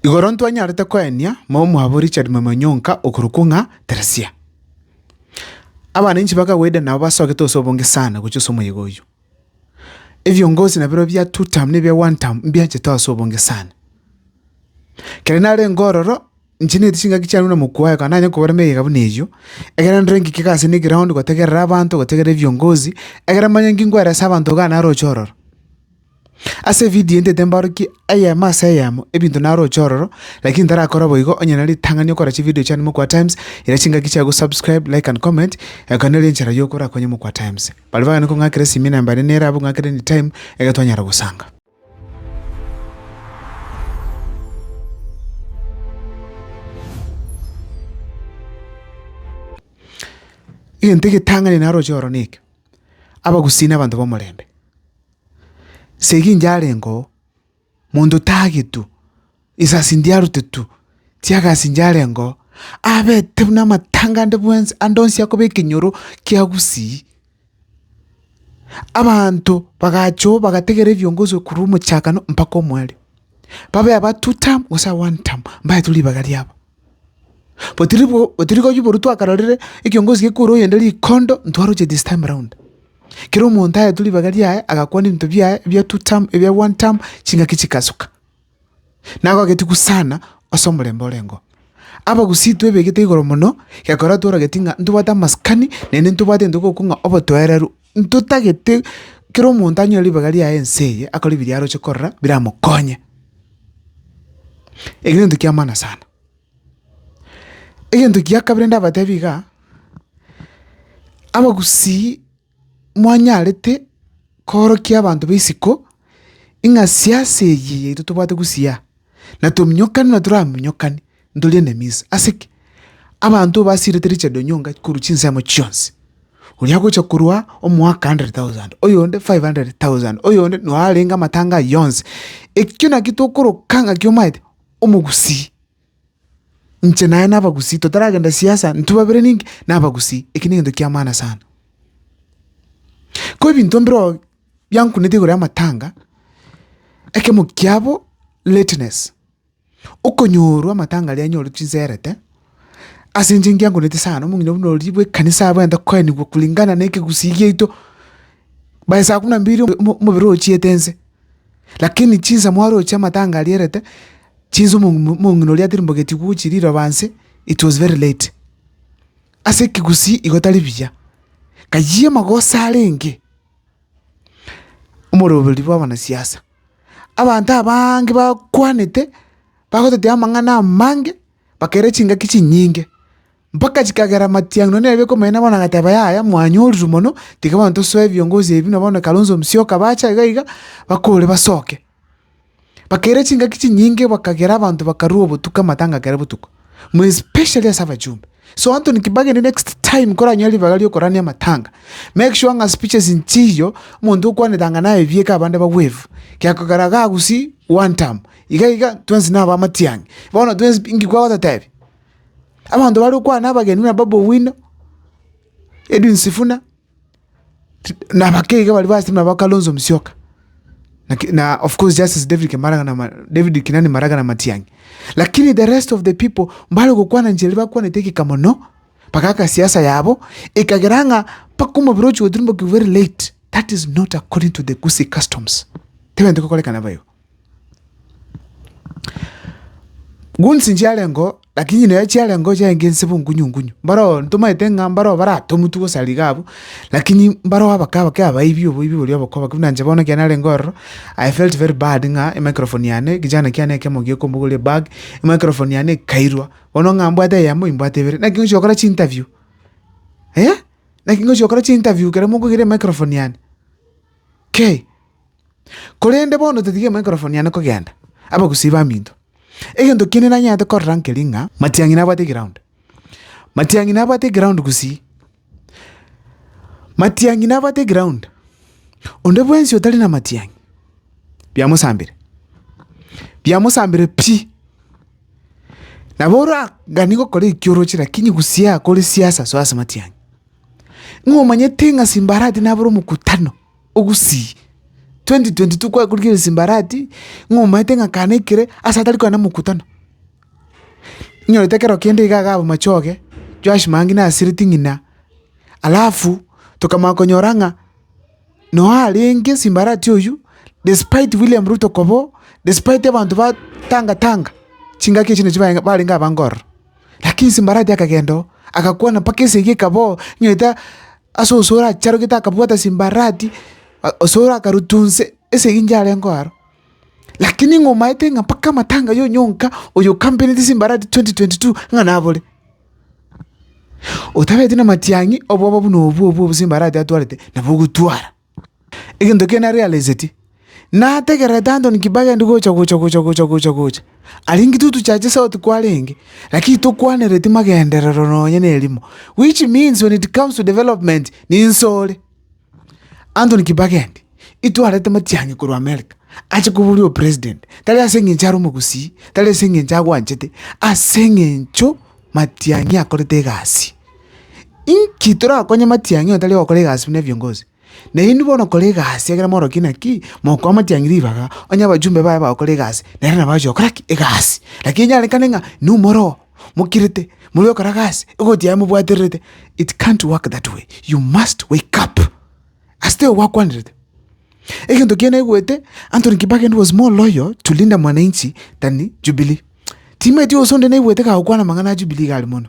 Igoro ntwanyarete koenia momo mwabo Richard Mwemwa Nyonka okorokwo ng'a Teresia. Abana inche bakagwede nabo basogete ase obonge sana gochia ase omoyega oyio. Ebiongozi nabirobio bia two term na ebia one term mbianchete ase obonge sana. Kere narenge ororo inche neti chingaki chiane na mokwo oye kona nanye kobarema eyega buna eyio egere ndore ng'ike egasi ende eground gotegerera abanto gotegerera ebiongozi egere manye ng'ingwere ase abanto iga naroche ororo. Ase evidio ntete mbarokie eyemo ase eyemo ebinto naroche ororo, lakini ntarakora boigo, onye na ritang'ani okora chividio chiane Mokwa-Times, ira chingaki chiago subscribe, like and comment, eye kore nere enchera yoka orakonye Mokwa-Times. Baria bagane kong'akera esimi namba ere nere abwo ng'akera anytime, egere twanyara gosanga. Egento egetang'ani naroche ororo neke, abagusii na abanto b'omorembe. Ase egencho arengeo monto tagetwe, risasi ndiarotetwe, tiagasi ndiarengeo, abete buna amatanga ande bwensi, ande onsi akoba ekenyoro kia gusii. Abanto bagachoa bagategera ebiongozi korwa omochakano mpaka omoerio. Babe aba two term gose aba one term, mbaetwe ribaga riabo. But ribu- but rirorio boru twakarorire ekiongozi gekure oyonde rikondo ntwaroche this time round. Kera omonto aetwe ribaga riaye agakwana ebinto biaye ebia two term, ebia one term, ching'aki chikasuka. Nagogetigwe sana ase omorembe orengeo. Abagusii twebegete igoro mono, gekora tworogeti ng'a ntobwate amasikani, naende ntobwate egento gokong'a obotoereru Ntotagete kera omonto anyore ribaga riaye ense eye, akore ebiria aroche korora biramokonye. Eki gento kia maana sana. Egento gia kabere ndabatebi igaa, abagusii mwanyarete koorokia abanto ba isiko ing'a siasa eye yaito tobwate gusii aa, na tominyokane na toramonyokani, Ntorie neminsa. Ase ki? Abanto basiirete richando nyonga korwa chinsemo chionsi. Oria agocha korwa omoaka 100,000, oyonde 500,000, oyonde noyo arenge amatanga ayio yonsi. Ekio nakio tokoroka ng'aki omaete? Omogusii. Inche naye nabagusii, totaragenda siasa, intwe babere ninki? Nabagusii. Eki negento kia maana sana. Ko ebinto mbirobio biankuneti igoro y'amatanga, ekemo kiabo lateness. okonyorwa amatangaria aye nyore chinserete, ase inche ngiankorete sana, omong'ina buna oria bw'ekanisa abwate koenigwa kulingana na ekegusii giaito, by saa kumi na mbili omo omobere ochiete nse, lakini chinsa mwaroche amatanga arierete, chinsa omong'ina omong'ina oria aterimbogeti gochia riroba nse, it was very late. Ase ekegusii igo tari buya, kayio amagoso arenge, omoroberi bw'abanasiasa. abanto abaange bakwanete, bagotetia amang'ana amange, bakaira chingaki chinyinge, mpaka chikagera matiang'ina nonya nere biakomonene bono agateba yaya mwanyorire mono, tiga bono tosoe ebiongozi ebi na bono Kalonzo Musyoka bache iga iga, bakore basoke. Bakaira chingaki chinyinge bakagera abanto bakarua obotuko amatanga akere botuko. more especially ase abachumba. So Anthony kibagende next time koranyore ribaga riokorania amatanga, make sure ng'a speeches nchiiyio omonto okwanetanga ng'a naye ebieka abande ba wave, kiakogera iga gusii one term, iga iga twensi naba amatiang'i. Bono twensi pi inki kwagototebi? Abanto bare okwana abageni buna Babu Owino, Edwin Sifuna. na abakei iga baria basemeire nabo Kalonzo Musyoka, laki na of course Justice David Kemaraga na ma David Kinani Maraga na Matiang'i. Lakini the rest of the people mbare gokwana enchera eria bakwanete egeka mono, bagaka siasa yabo, ekagera ng'a mpaka omobere ochia goturumbokigwa very late, that is not according to the Gusii customs, tebwenerete gokorekana bo igo. Goons nchiarengo, lakini nere chiarengo chiaye nsebo nkunyu nkunyu, mbaroo ntomaete ng'a mbaroo baratomutwe gose aria iga abwo, lakini mbaroo abake abake abaibi oboibi boria oboko oboko buna inche bono ekero narenge ororo, I felt very bad ng'a emicrophone yane, ekechana kiane ekemo gekombogoria ebag, emicrophone yane ekairwa, bono ng'a mbwate eyemo imbwate ibere, naki ngochia gokora chiinterview, eh! Naki ngochia gokora chiinterview ekero mokogira emicrophone yane, kei. Korende bono totige Maikrofoni yane kogenda, abagusii baminto. Egento kiane nanyarete korora nkeri ng'a Matiang'i nabwate egraund. Matiang'i nabwate egraund gusii. Matiang'i nabwate egraund. Onde bwensi otari na Matiang'i, biamosambire, biamosambire pi. Nabo oragani gokora ekio oroche lakini gusii akore siasa soa ase Matiang'i. Ng'o omanyete ng'a Simbarati nabore omokutano. Ogusii, 2022 kwakorigereire Simbarati ng'a omaete ng'a kane ekere ase atari koenda mokutano, inyorete ekero kende iga iga abamachoge Joash Mangi na Asiriti ng'ina. Alafu tokamanya konyora ng'a noe arenge Simbarati oyio despite William Ruto koba oo, despite abanto ba tanga tanga chingaki echio nachio bare barenge abange ororo, lakini Simbarati akagenda oo agakwana mpaka esegi ekaba oo inyorete. Ase onsi oracharogete akabwata chimbarati, onsi orakaruta onse ase eng'encho arenge aro. Lakini ng'a omaete ng'a mpaka amatanga ya onyonka oyo okampenete chimbarati twenty twenty two ng'a nabore. Otabeti na matiang'i obwoba buna obwo obwo chimbarati atwarete nabo ogotwara. Egento ekiya naro yareseti, nategererete Antony Kibaki aria gocha gocha gocha gocha gocha gocha. Aria inki totuchache sauti kwarenge, lakini tokwanereti magenderero nonye ne erimo, which means when it comes to development ninse ore. Antony Kibaki endi, itwarete matiang'i korwa America, ache koboria o president, tari ase eng'encho are omogusii, tari ase eng'encho agwanchete, ase eng'encho matiang'i akorete egasi. Inki torakonye amatiang'i otari gokora egasi buna ebiongozi? Na inwe bono kora egasi ekero morokia naki mokoa amatiang'i ribaga, onye abachumbe baye bagokora egasi, nere nabo agochia gokora ki? Egasi. Lakini inyarekane ng'a inwe more oo mokirete, moria okora gasi, egoti yaye mobwatererete, it can't work that way, you must wake up. Ase teigo gwakwanerete. Egento ekiya naigwete, Anthony Kibaki was more loyal to Linda Mwananchi than Jubilee. Timaeti gose onde naigwete kagokwana amang'ana a Jubilee iga aria mono.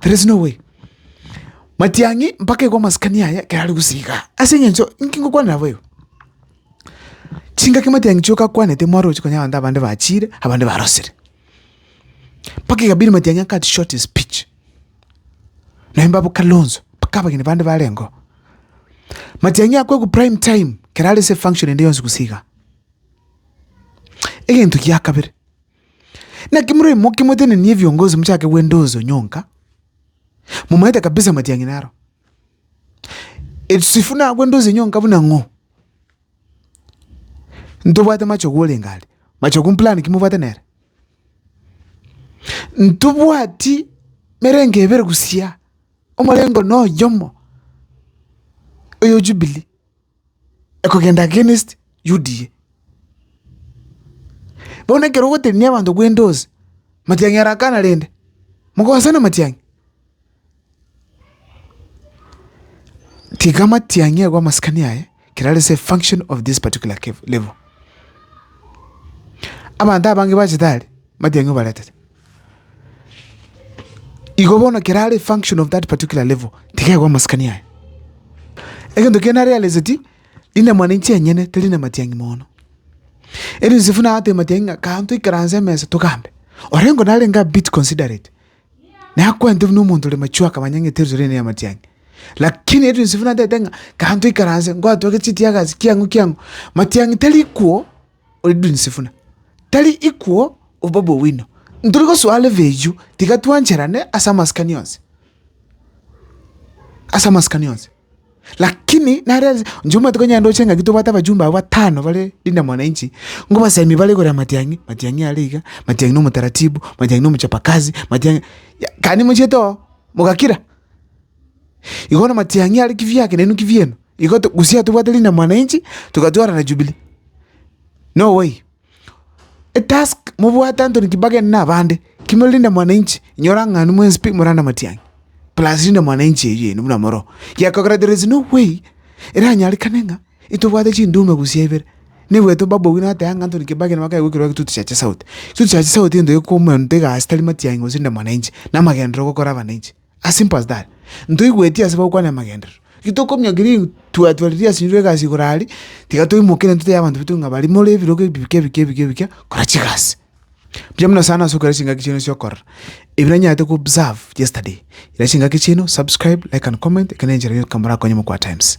There is no way. Matiang'i mpaka igo amasikani aya ekero are gusii igaa. Ase eng'encho inki ngokwana nabo igo? Chingaki Matiang'i chioka akwanete mwarochi konya abanto abande bachiire, abande barosire. Mpaka ekabidi Matiang'i a cut short his speech. Naende abwo Kalonzo, mpaka abageni bande barengeo. Matiang'i akwegwa prime time ekero are ase efunction ende yonsi gusii igaa. Egento gia kabere. Naki moraimoke motenenie ebiongozi mochake gwenda onsi onyonka, momanyete kabisa amatiang'ina aro. Esisifu nagwende onsi onyonka buna ng'o? Ntobwate machogu orenge are, machogu mplan ki mobwate nere? Ntobwati emerengo ebere gusii, omorengo na oyomo, oyo Jubilee. ekogenda against UDA. Bono ekero ogotenenia abanto kwende onsi, Matiang'i arakana rende, mokosana Matiang'i? Tiga Matiang'i agwe amasikani aye, ekero are ase efunction of this particular level. Abanto abange bachete are, Matiang'i obaretete. Igo bono ekero are function of that particular level, tiga aigwe amasikani aye. Egento kiane arealizeti, inama ninche enyene teri ne matiang'i mono. Eri Yosefu naye ateba matiang'i ng'a kaam toikaranse emesa togambe. Orengo narenge a bit considerate, naye akwente buna omonto ore mature akamanya ng'a eteritori eye ne ya matiang'i. Lakini eri Yosefu natete ng'a kaam toikaranse, ngoa twake chitiagazi kiang'u kiang'u. Matiang'i tari kwo. oridunse buna tari ikwo obobe bw'owino. Ntori gosoa level eyio tiga twancherane ase amasikani onsi, ase amasikani onsi. Lakini nare nse inche omanyete onye ndoche ng'aki tobwate abajumbe abwo batano bare Linda Mwananchi, ngobasaimie bare igoro ya Matiang'i, Matiang'i are iga, Matiang'i na omotaratibu, Matiang'i na omochapa kazi, Matiang'i ya kare nimochiete oo, mogakira. Igo bono Matiang'i are kibyake nainwe kibyenu. Igo gose tobwate rinde mwananchi, togatwarana Jubilee. Noway, etask mobwate Anthony Kibakeni na abande, kimore rinde mwananchi, inyora ng'a aria mwensi pi morana matiang'i, plus rinde mwananchi eywo yaino buna moroo, gekogera there is no way eranyarekane ng'a itobwate chindume gose ibere. Nigo etwa Babu Owino ateba ng'a Anthony Kibakeni nigo akegwa ekero egitutu chia chisauti. Egitutu chia chisauti nigo ekomonto egasi tari matiang'i gose rinde mwananchi, na amagenderero gokora abananchi. As simple as that. Ntoigweti ase bagokwana amagenderero. Ki tokominyokia ri twatwa riria ase inchuo egasi igoro aria, tiga toimoke intwe totebe abanto baito ng'a bari more ebirogo ebi bike bike bike bike kora chigasi. Mbuya mono sana ase okora chingaki chiaino chia okorora, ebi nanyarete ko observe yesterday. Ira chingaki chiaino, subscribe, like and comment, eke nenchera yoka morakonye mokwa times.